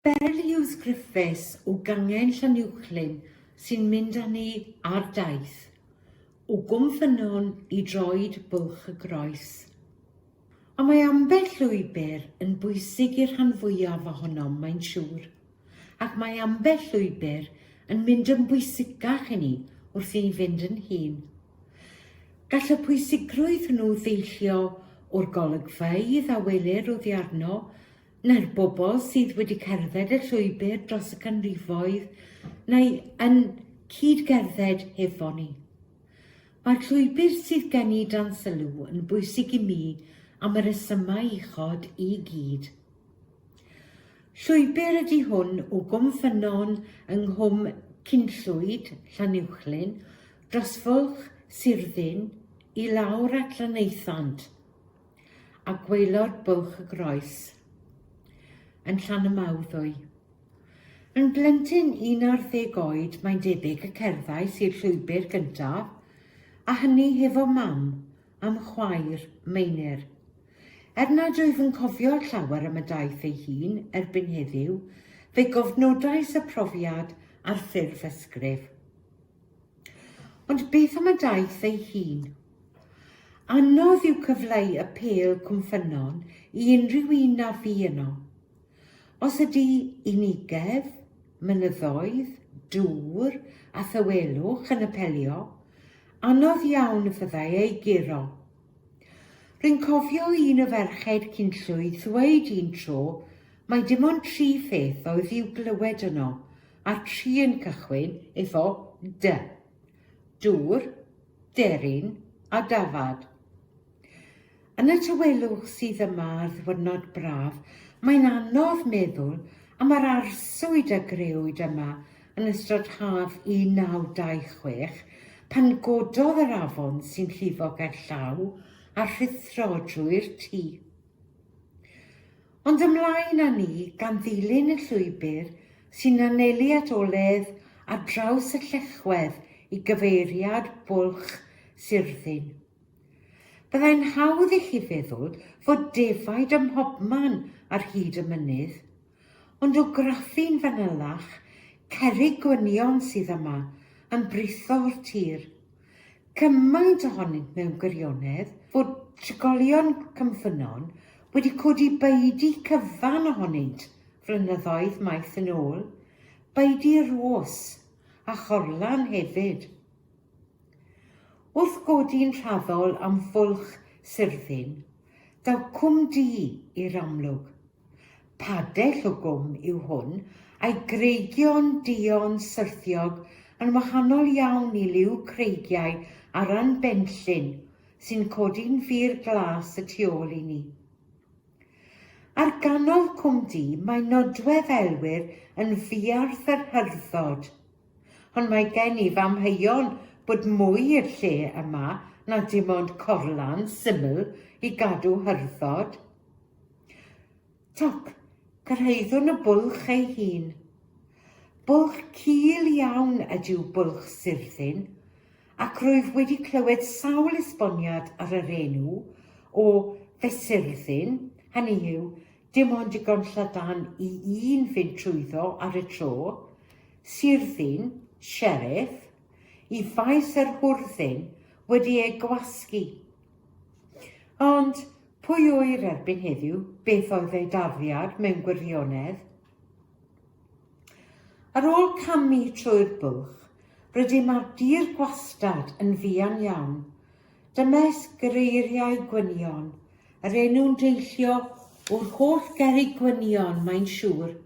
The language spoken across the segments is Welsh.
Beryl Hughes Griffiths o Gangen Llanuwchllyn sy'n mynd â ni ar daith o Gwm Ffynnon i droed Bwlch y Groes. A mae ambell lwybr yn bwysig i'r rhan fwyaf ohonom, mae'n siŵr, ac mae ambell lwybr yn mynd yn bwysicach i ni wrth i ni fynd yn hŷn. Gall y pwysigrwydd hwnnw ddeillio o'r golygfeydd a welir oddi arno, na'r bobl sydd wedi cerdded y llwybr dros y canrifoedd neu yn cyd-gerdded hefo ni. Mae'r llwybr sydd gen i dan sylw yn bwysig i mi am y resymau uchod i gyd. Llwybr ydy hwn o Gwm Ffynnon yng Nghwm Cynllwyd, Llanuwchllyn, dros Fwlch Sirddin i lawr at Lanaethant. a gwaelod bwlch y groes yn Llanymawddwy. Yn blentyn 11 oed mae'n debyg y cerddais i'r llwybr gyntaf, a hynny hefo mam am chwaer Meinir. Er nad wyf yn cofio llawer am y daith ei hun erbyn heddiw, fe gofnodais y profiad ar ffurf ysgrif. Ond beth am y daith ei hun? Anodd yw cyfleu y pêl Cwm Ffynnon i unrhyw un na fu yno. Os ydy unigedd, mynyddoedd, dŵr a thawelwch yn apelio, anodd iawn y fyddai ei guro. Rwy'n cofio i un o ferched Cynllwyd ddweud un tro mai dim ond tri pheth oedd i'w glywed yno, a'r tri yn cychwyn efo 'dy'. Dŵr, deryn a dafad. Yn y tawelwch sydd yma ar ddiwrnod braf, mae'n anodd meddwl am yr arswyd a grëwyd yma yn ystod haf 1926, pan gododd yr afon sy'n llifo gerllaw a rhuthro drwy'r tŷ. Ond ymlaen â ni, gan ddilyn y llwybr sy'n anelu at oledd ar draws y llechwedd i gyfeiriad Bwlch Surddyn. Byddai'n hawdd i chi feddwl fod defaid ym mhobman ar hyd y mynydd, Ond o graffu'n fanylach, cerrig gwynion sydd yma, yn britho o'r tir. Cymaint ohonynt mewn gwirionedd, fod trigolion Cwmffynnon wedi codi baedu cyfan ohonynt flynyddoedd maith yn ôl, baedu Rhos, a Chorlan hefyd. Wrth godi'n rhaddol am fwlch Sirddin, Daw Cwm Du i'r amlwg. Padell o gwm yw hwn, a'i greigion duon syrthiog yn wahanol iawn i liw creigiau Aran Benllyn sy'n codi'n fur glas y tu ôl i ni. Ar ganol Cwm Du mae nodwedd aelwyr yn fuarth yr Hyrddod. Ond mae gen i f'amheuon bod mwy i'r lle yma na dim ond corlan syml i gadw hyrddod. Toc, cyrhaeddwn y bwlch ei hun. Bwlch cul iawn ydyw bwlch Sirddin, ac rwyf wedi clywed sawl esboniad ar yr enw o Fesurddin, hynny yw, Dim ond digon llydan i un fynd trwyddo ar y tro, Sirddin, Sheriff, i faes yr hwrddyn wedi ei gwasgu. Ond pwy oer erbyn heddiw beth oedd ei darddiad mewn gwirionedd? Ar ôl camu trwy'r bwlch, rydym ar dir gwastad yn fuan iawn, Dymes greiriau gwynion, yr enw'n deillio o'r holl gerrig gwynion, mae'n siŵr.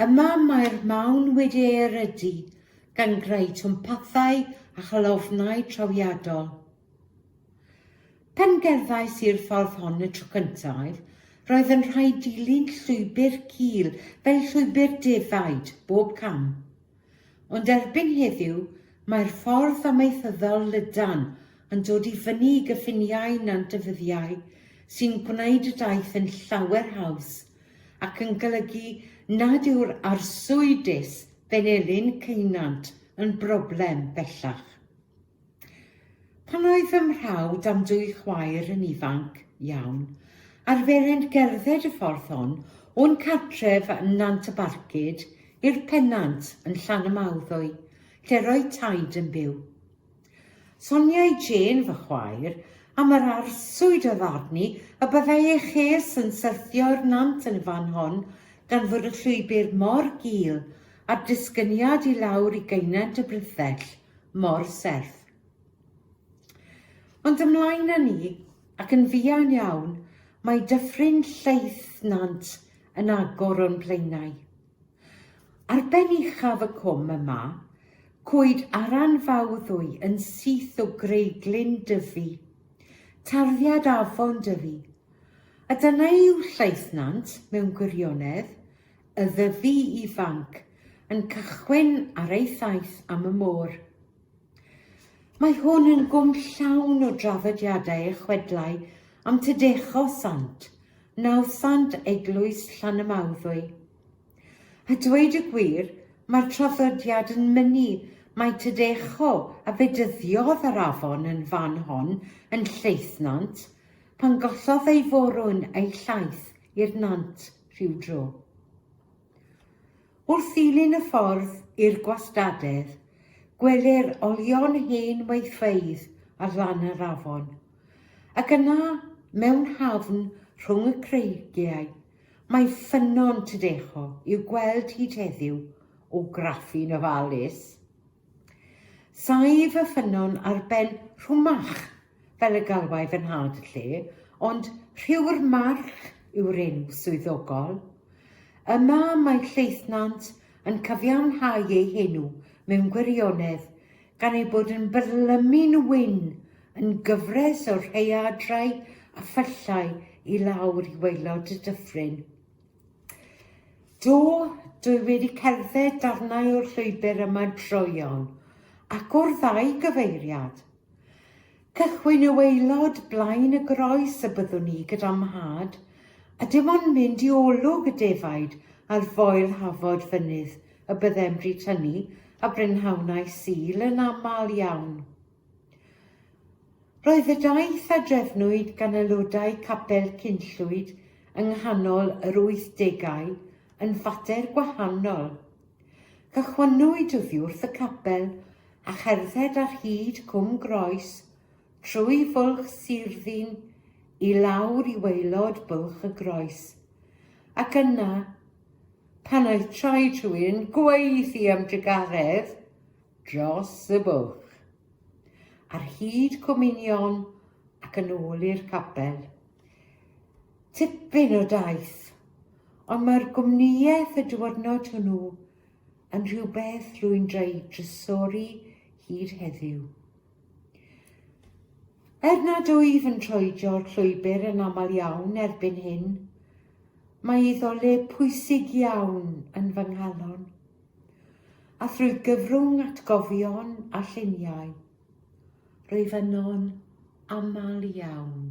Yma mae'r mawn wedi ei erydu gan greu twmpathau a chalofnau trawiadol. Pan gerddais i'r ffordd hon y tro cyntaf, roedd yn rhaid dilyn llwybr cul fel llwybr defaid bob cam. Ond erbyn heddiw, mae'r ffordd amaethyddol lydan yn dod i fyny i gyffiniau Nant y Fyddiau sy'n gwneud y daith yn llawer haws ac yn golygu nad yw'r arswydus Benelin Ceunant yn broblem bellach. Pan oedd fy mhrawd a'm dwy chwaer yn ifanc iawn, arferent gerdded y ffordd hon o'n cartref yn Nant y Barcud i'r Pennant yn Llanymawddwy, lle roedd Taid yn byw. Soniai Jane, fy chwaer, am yr arswyd oedd arni y byddai ei ches yn syrthio i'r nant yn y fan hon gan fod y llwybr mor gul a'r disgyniad i lawr i gaenent y Brithell mor serth. Ond ymlaen â ni, ac yn fuan iawn, mae dyffryn lleith nant yn agor o'n blaenau. Ar ben uchaf y cwm yma, cwyd aran fawddwy yn syth o greiglyn dyfu, tarddiad afon dyfu, a dyna yw lleith nant mewn gwirionedd, y Ddyfi Ifanc yn cychwyn ar ei thaith am y môr. Mae hwn yn gwm llawn o draddodiadau a chwedlau am Tydecho Sant, nawddsant eglwys Llanymawddwy. A dweud y gwir, mae'r traddodiad yn mynnu mae Tydecho a bedyddiodd yr afon yn fan hon yn Lleithnant pan gollodd ei forwn a'i llaeth i'r nant. rhyw dro. Wrth ddilyn y ffordd i'r gwastadedd, gwelir olion hen weithfeydd ar lan yr afon, ac yna, mewn hafn rhwng y creigiau, mae ffynnon Tydecho i'w gweld hyd heddiw o graffu'n ofalus. Saif y ffynnon ar ben Rhwmach, fel y galwai fy nhad y lle, ond Rhiw'r March yw'r enw swyddogol. Yma mae Lleithnant yn cyfiawnhau ei henw mewn gwirionedd, gan ei bod yn byrlymu'n wyn yn gyfres o rhaeadrau a phyllau i lawr i waelod y dyffryn. Do, dwi wedi cerdded darnau o'r llwybr yma droeon, ac o'r ddau gyfeiriad. Cychwyn y waelod blaen y groes y byddwn i gyda mhad, a dim ond mynd i olwg y defaid ar foel hafod fynydd y byddem bryd hynny a brynhawnau Sul yn aml iawn. Roedd y daith a drefnwyd gan aelodau Capel Cynllwyd yng nghanol yr wythdegau yn fater gwahanol. Cychwynnwyd oddi wrth y capel a cherdded ar hyd Cwm Groes, trwy Fwlch Sirddin i lawr i waelod Bwlch y Groes. Ac yna, pan oedd traed rhywun gwaethu am drugaredd, dros y bwlch, ar hyd cominion ac yn ôl i'r capel. Tipyn o daith, ond mae'r gwmnïaeth y diwrnod hwnnw yn rhywbeth rwy'n dreu drysori hyd heddiw. Er nad wyf yn troedio'r llwybr yn aml iawn erbyn hyn, mae iddo le pwysig iawn yn fy nghalon. A thrwy gyfrwng atgofion a lluniau, rwyf yno'n aml iawn.